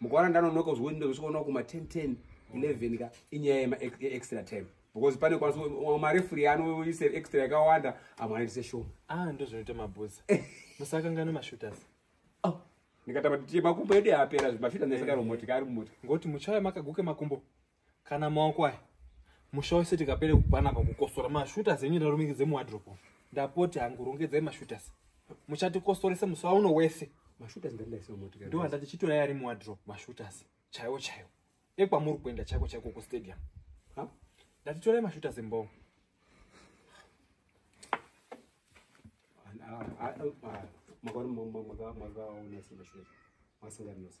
mukaona ndanonoka kuzvinoita zvisvikoona kuma 10 10 11 ka inyaya yemaextra time because pane kwanisa marefuri anoise extra yakawanda amwe anoitise show ah ndozvinoita mabhuzi musakangana mashooters oh. ndikatama kuti makumbo edu apera zvimashooters ndisakaro eh. moti kari moti ngoti muchaya makaguke makumbo kana maoko aya musha wese tikapere kupana pakukosora mashooters enyu ndarumikidze muwadrop ndapoti hangu rongedzai mashooters muchatikosorese musa uno wese ndo handati chitorai ari muwadrop mashooters chaiwo chaiwo ekwamuri kuenda chaiko chaiko kustadium ndatitorai mashooters mboo makaona makaona sina shweza masinganose